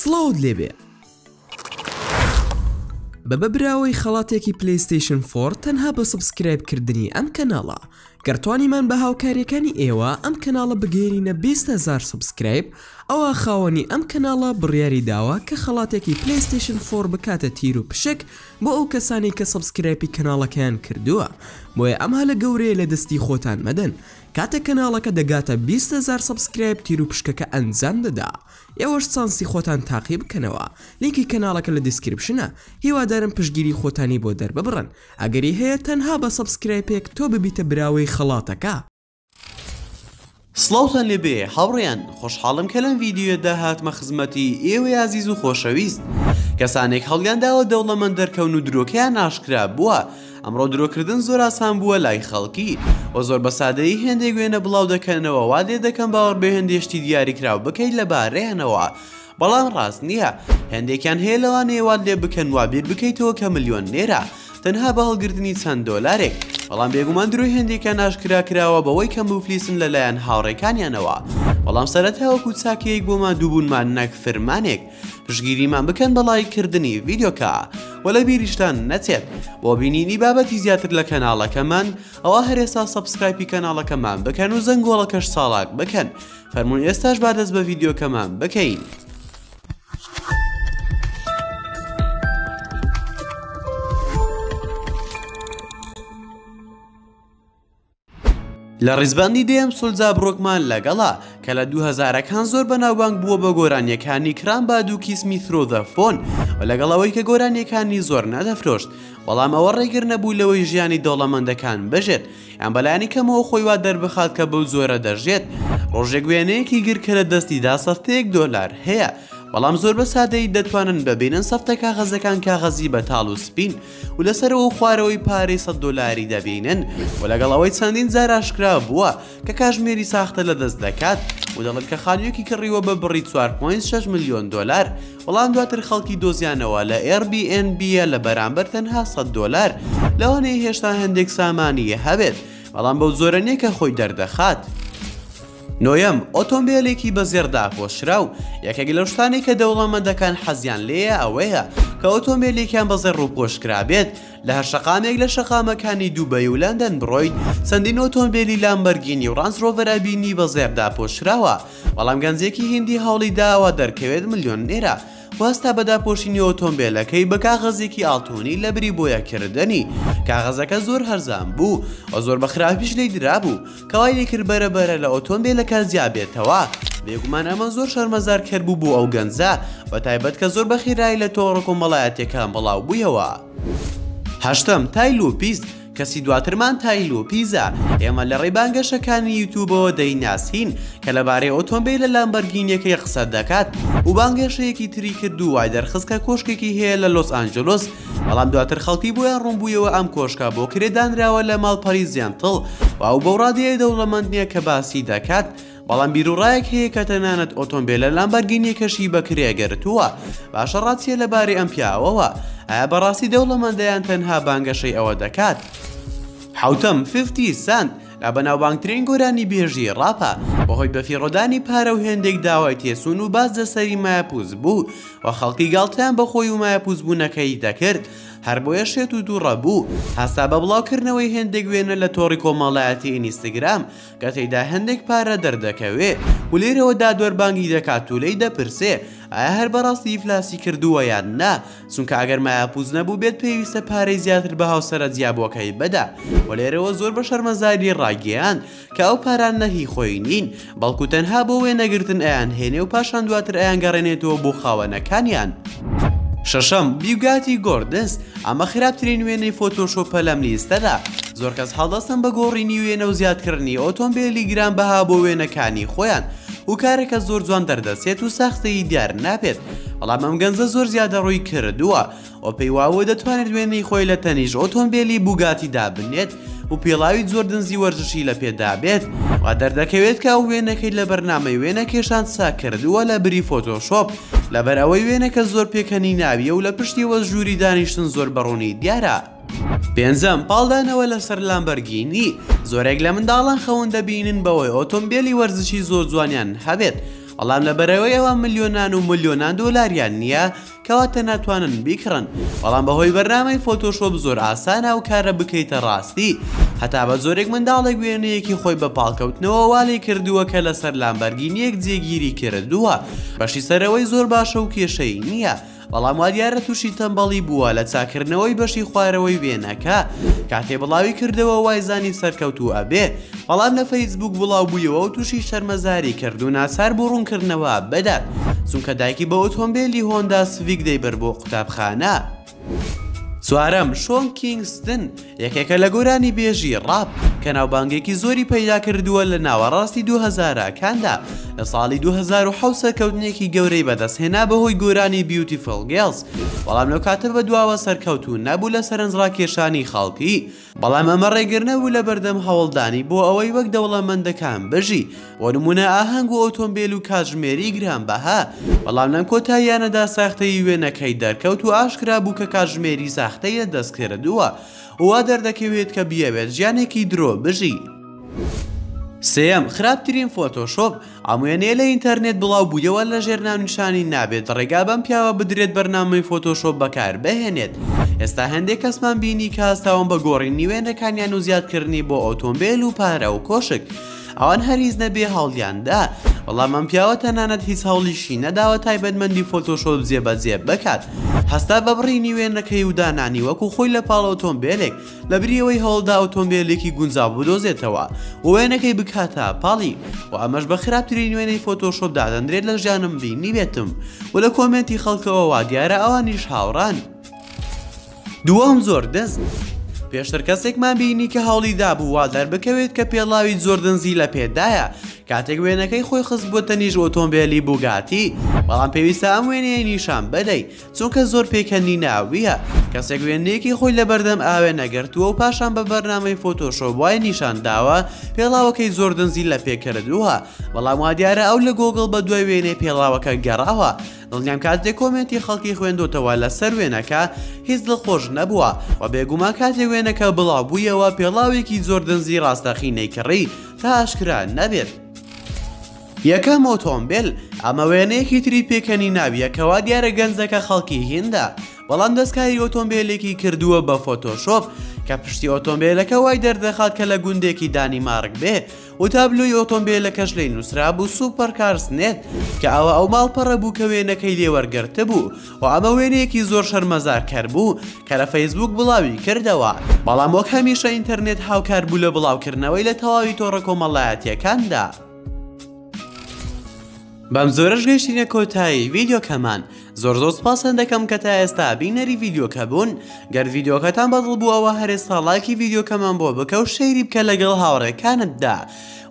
سڵاوت لێبێ بەبە براوەی خەڵاتێکی پلیستیشن فۆر تەنها بە سبسکرایب کردنی ئەم کەناڵە گەرتوانیمان بە هاوکاریەکانی ئێوە ئەم کەناڵە بگەێنینە 20هزار سبسکرایب ئەوە خاوەنی ئەم کەناڵە بڕیاری داوە کە خەڵاتێکی پلیستیشن فۆر بکاتە تیر و پشک بۆ ئەو کەسانی کە سبسکرایپی کەناڵەکەیان کردووە بۆیە ئەم هەلە گەورەیە لە دەستی خۆتان مەدەن کاتێک کەناڵەکە دەگاتە بیست هەزار سەبسکرایب تیروپشکەکە ئەنجام دەدا ئێوەش چانسی خۆتان تاقی بکەنەوە لینکی کەناڵەکە لە دیسکریپشنە هیوادارم پشتگیری خۆتانی بۆ دەرببڕن ئەگەری هەیە تەنها بە سەبسکرایپێک تۆ ببیتە براوەی خەڵاتەکە. سڵاوتان لێ بێ هاوڕێیان خۆشحاڵم کە لەم ڤیدیۆیەدا هاتمە خزمەتی ئێوەی ئازیز و خۆشەویست کەسانێک هەڵیان داوە دەوڵەمەند دەرکەون و درۆکەیان ئاشکرا بووە، ئەمڕۆ درۆکردن زۆر ئاسان بووە لای خەڵکی و زۆر بە سادەیی هێندێک وێنە بڵاو دەکەنەوە وات لێ دەکەم باوەڕ بە هێندێ شتی دیاریکراو بکەیت لەبارەیانەوە بەڵام ڕاست نییە هێندێکیان هەیە لەوانەیە وات لێ بکەن وا بیر بکەیتەوە کە ملیۆنێرە تەنها بە هەڵگرتنی چەند دۆلارێک بەڵام بێگومان درۆی هێندێکیان ئاشکرا کراوە بەوەی کە موفلیسن لەلایەن هاوڕێکانیانەوە بەڵام سەرەتا وەکو چاکەیەک بۆ ماندووبوونمان نەک فرمانێک پشتگیریمان بکەن بە لایک کردنی ڤیدیۆکە و لە بیریشتان نەچێت بۆ بینینی بابەتی زیاتر لە کەناڵەکەمان ئەوە هەرێسا سەبسکرایپی کەناڵەکەمان بکەن و زەنگۆڵەکەش ساڵاک بکەن فەرمون ئێستاش با دەست بە ڤیدیۆکەمان بکەین. لە ڕیزبەندی دێم سولجا بڕۆکمان لەگەڵا کە لە دوو هەزارەکان زۆر بەناوبانگ بووە بە گۆرانیەکانی کران با دوو کیسمی ترۆدە فۆن و لەگەڵەوەی کە گۆرانیەکانی زۆر نەدەفرۆشت بەڵام ئەوە ڕێگر نەبوو لەوەی ژیانی دەوڵەمەندەکان بژێت یان بەلایانی کەمەوە خۆی وا دەربخات کە بەو زۆرە دەژێت ڕۆژێک وێنەیەکی گر کە لە دەستیدا سەفتەیەک دۆلار هەیە بەڵام زۆر بە سادەی دەتوانن ببینن سەفتە کاغەزەکان کاغەزی بەتاڵ و سپین و لە سەرەوە و خوارەوەی پارەی سەد دۆلاری دەبینن و لەگەڵ ئەوەی چەندین جار ئاشکرا بووە کە کاژمێری ساختە لە دەست دەکات و دەڵێت کە خانوویەکی کڕیوە بە بڕی 4.6 ملیۆن دۆلار بەڵام دواتر خەڵکی دۆزیانەوە لە Airbnb ە لە بەرامبەر تەنها سەد دۆلار لەوانەیە هێشتا هەندێک سامانیی هەبێت بەڵام بەو جۆرە نییە کە خۆی دەردەخات. نۆیەم، ئۆتۆمبێلێکی بە زێڕ داپۆشراو، یەکێک لەو شتانەی کە دەوڵەمەندەکان حەزیان لێیە ئەوەیە کە ئۆتۆمبێلێکیان بە زێڕ ڕووپۆش کرابێت، لە هەر شەقامێک لە شەقامەکانی دوبەی و لەندەن بڕۆیت چەندین ئۆتۆمبێلی لامبەرگینی و ڕانج ڕۆڤەر ئەبینی بە زێڕ داپۆشراوە، بەڵام گەنجێکی هیندی هەوڵی داوە دەرکەوێت ملیۆنێرە و هەستا بە داپۆشینی ئۆتۆمبێلەکەی بە کاغەزێکی ئاڵتوونی لەبری بۆیاکردنی، کاغەزەکە زۆر هەرزان بوو و زۆر بە خراپیش لێی درابوو، کەوایلی کرد بەرە بەرە لە ئۆتۆمبیلەکە جیا بێتەوە بێگومان ئەمە زۆر شەرمەزار کەر بوو بۆ ئەو گەنجە بە تایبەت کە زۆر بە خیرایی لە تۆڕە کۆمەڵایەتیەکان بڵاو بوویەوە هەشتەم تایل و پیست کەسی دواترمان تایل و پیزە ئێمە لە ڕێی بانگەشەکانی یوتوبەوە دەیناسین کە لەبارەی ئۆتۆمبیل لە لامبەرگینیەکەی قسە دەکات و بانگێشەیەکی تری کرد و وای دەرخست کە کۆشکێکی هەیە لە لۆس ئانجلۆس بەڵام دواتر خەڵکی بۆیان ڕوونبوویەوە ئەم کۆشکە بۆ کرێ دانراوە لە ماڵپەری زیانتڵ و ئەو بەو ڕادەیە دەوڵەمەند نییە کە باسی دەکات، بەڵام بیروڕایەک هەیە کە تەنانەت ئۆتۆمبێلە لامبارگینییەکەشی بە کرێ گرتووە، باشە ڕات چییە لەبارەی ئەم پیاوەوە؟ ئایا بەڕاستی دەوڵەمەندە یان تەنها بانگەشەی ئەوە دەکات؟ حەوتەم، فیفتی سەنت، لە بەناوبانگترین گۆرانیبێژی ڕاپە، بەهۆی بەفیڕۆدانی پارە و هێندێک داوای تێچوون و باز لەسەری مایەپووچ بوو و خەڵکی گاڵتەیان بە خۆی و مایەپووچبوونەکەی دەکرد، هەربۆیە شێت و توڕە بوو، هەستا بە بڵاوکردنەوەی هێندێک وێنە لە تۆڕی کۆمەڵایەتی ئینیستگرام کە تێیدا هێندێک پارە دەردەکەوێ و لێرەوە دادوەر بانگی دەکات و لێی دەپرسێ ئایا هەر بەڕاستی ئیفلاسی کردووە یان نا؟ چونکە ئەگەر مایاپووچ نەبووبێت پێویستە پارەی زیاتر بە هاوسەرە جیابووەکەی بدا و لێرەوە زۆر بە شەرمەزاری ڕایگەیاند کە ئەو پارانە هی خۆی نین بەڵکو تەنها بۆ وێنەگرتن ئەیانهێنێ و پاشان دواتر ئەیانگەڕێنێتەوە بۆ خاوەنەکانیان. شەشەم، بیوگاتی گۆردنس، ئەمە خراپترین وێنەی فۆتۆشۆپە لەم لیستەدا، زۆر کەس هەڵدەستن بە گۆڕینی وێنە و زیادکردنی ئۆتۆمبێلی گرانبەها بۆ وێنەکانی خۆیان و کارەکە زۆر جوان دەردەچێت و ساختەیی دیار نابێت، بەڵام ئەم گەنجە زۆر زیادەڕووی کردووە و پێی واوە دەتوانێت وێنەی خۆی لە تەنیش ئۆتۆمبیلی بوگاتی دابنێت و پێڵاوی زۆر دنزی وەرزشی لە پێدابێت و دەردەکەوێت کە ئەو وێنەکەی لە بەرنامەی وێنە کێشان ساکردووە لە بری فۆتۆشۆپ لەبەر ئەوەی وێنەکە زۆر پێکەنی ناویە و لە پشتیوە ژووری دانیشتن زۆر بەڕوونی دیارە. پێنجەم پاڵدانەوە لەسەر لامبەرگینی زۆرێک لە منداڵان خەون دەبینن بەوەی ئۆتۆمبیلی وەرزشی زۆر جوانیان هەبێت بەڵام لەبەرەوەی ئەوە ملیۆنان و ملیۆنان دۆلاریان نییە کەواتە ناتوانن بیکڕن بەڵام بەهۆی بەرنامەی فۆتۆشۆپ زۆر ئاسانە و کارە بکەیتە ڕاستی هەتا بە زۆرێک منداڵێک وێنەیەکی خۆی بە پاڵکەوتنەوە والی کردووە کە لەسەر لامبەرگینیەک جێگیری کردووە بەشی سەرەوەی زۆر باشە و کێشەی نییە بەڵام وادیارە تووشی تەمبەڵی بووە لە چاکردنەوەی بەشی خوارەوەی وێنەکە کاتێ بڵاوی کردەوە وای زانی سەرکەوتوو ئەبێ بەڵام لە فەیسبوک بڵاو بوویەوە و تووشی شەرمەزاری کرد و ناچار بوو ڕوونکردنەوە بدات چونکە دایکی بە ئۆتۆمبیلی هۆندا سڤیک دەیبەر بۆ قوتابخانە چوارەم شۆن کینگستن یەکێکە لە گۆرانی بێژی ڕاپ کە ناوبانگێکی زۆری پەیدا کردووە لە ناوەڕاستی دوو هەزارە کاندا لە ساڵی 2010 سەرکەوتنێکی گەورەی بەدەست هێنا بەهۆی گۆرانی بیوتی فڵگێڵز بەڵام لەو کاتە بە دواوە سەرکەوتون نەبوو لە سەرنج ڕاکێشانی خەڵکی بەڵام ئەمە ڕێگرنەبوو لە بەردەم هەوڵدانی بۆ ئەوەی وەک دەوڵەمەندەکان بژی بۆ نموونە ئاهەنگ و ئۆتۆمبێل و کاتژمێری گرانبەها، بەڵام لەم کۆتاییانەدا ساختەیی وێنەکەی دەرکەوت و ئاشکرا بوو کە کاتژمێری ساختەی لە دەست کردووە و وا دەردەکەوێت کە بیەوێت ژیانێکی درۆ بژی. سێیەم، خراپترین فۆتۆشۆپ، ئەم وێنەیە لە ئینتەرنێت بڵاو بوویەوە لەژێر ناونیشانی نابێت ڕێگا بەم پیاوە بدرێت بەرنامەی فۆتۆشۆپ بەکار بهێنێت، ئێستا هەندێک کەسمان بینی کە هەستاون بە گۆڕینی وێنەکانیان و زیادکردنی بۆ ئۆتۆمبێل و پارە و کۆشک، ئەوان هەر هیچ نەبێ هەوڵیان دا بەڵام ئەم پیاوە تەنانەت هیچ هەوڵیشی نەداوە تایبەتمەندی فۆتۆشۆپ جێبەجێ بکات هەستا بە بڕینی وێنەکەی و دانانی وەکو خۆی لە پاڵ ئۆتۆمبێلێک لە بریەوەی هەوڵدا ئۆتۆمبێلێکی گونجاو بدۆزێتەوە و وێنەکەی بکاتە پاڵی و ئەمەش بە خراپترین وێنەی فۆتۆشۆپ دادەندرێت لە ژیانم بینی بێتم و لە کۆمێنتی خەڵکەوە وا دیارە ئەوانیش هاوڕان دووەم زۆر دز بوو. پێشتر کەسێکمان بینی کە هەوڵی دابوو وا دەربکەوێت کە پێڵاوی زۆر دنزی لە پێدایە کاتێک وێنەکەی خۆی خستبووتە نیژ ئۆتۆمبێلی بوگاتی بەڵام پێویستە ئەم وێنەیە نیشان بدەی چونکە زۆر پێکەنی ناویە کەسێک وێنەیەکی خۆی لەبەردەم ئاوێ نەگرتووە و پاشان بە بەرنامەی فۆتۆشۆ وای نیشان داوە پێڵاوەکەی زۆر دنزی لە پێکردووە بەڵام وا دیارە ئەو لە گۆگڵ بە دوای وێنەی پێڵاوەکە گەڕاوە دڵنیام کاتێ کۆمێنتی خەڵکی خوێندۆتەوە لەسەر وێنەکە هیچ دڵ خۆش نەبووە و بێگوما کاتێ وێنەکە بڵاو بوویەوە پێڵاوێکی زۆر دەنزی ڕاستەخی نەیکڕی تا ئاشکرا نەبێت. یەکەم ئۆتۆمبیل ئەمە وێنەیەکی تری پێکەنی ناویە کەوا دیارە گەنجەکە خەڵکی هیندە بەڵام دەستکاری ئۆتۆمبیلێکی کردووە بە فۆتۆشۆپ کە پشتی ئۆتۆمبیلەکە وای دەردەخات کە لە گوندێکی دانیمارک بێ و تابلۆی ئۆتۆمبێلەکەش لێی نووسرابوو سوپەر کارس نێت کە ئەوە ئەو ماڵپەڕە بوو کە وێنەکەی لێ وەرگرتبوو و ئەمە وێنەیەکی زۆر شەرمەزارکەر بوو کە لە فەیسبووک بڵاوی کردەوە بەڵام وەک هەمیشە ئینتەرنێت هاوکار بوو لە بڵاوکردنەوەی لە تەواوی تۆڕە کۆمەڵایەتییەکاندا. بەم جۆرەش گەیشتینە کۆتایی ڤیدیۆکەمان زۆر زۆر سپاسان دەکەم کە تا ئێستا بینەری ڤیدیۆکە بوون گەر ڤیدیۆکەتان بەدڵ بووەوە هەرێ ساڵاکی ڤیدیۆکەمان بۆ بکە و شەیری بکە لەگەڵ هاوڕێکانتدا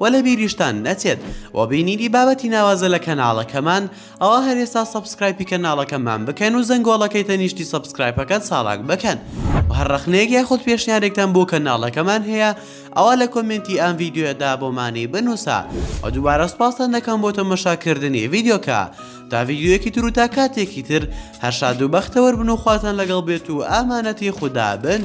و لە بیریشتان نەچێت و بینیری بابەتی ناوازە لە کەناڵەکەمان ئەوە هەرێستا سبسکرایپی کەناڵەکەمان بکەن و زەنگۆڵەکەی تەنیشتی سبسکرایپەکەت ساڵاک بکەن و هەر ڕەخنەیەک یاخود پێشنیارێکتان بۆ کەناڵەکەمان هەیە ئەوا لە کۆمێنتی ئەم ڤیدیۆیەدا بۆمانی بنووسە و دووبارە سپاستان دەکەم بۆ تەمەشاکردنی ڤیدیۆکە تا ڤیدیۆیەکی تر و تا کاتێکی تر هەر شاد و بەختەوەر بن و خواتان لەگەڵ بێت و ئامانەتی خودا بن.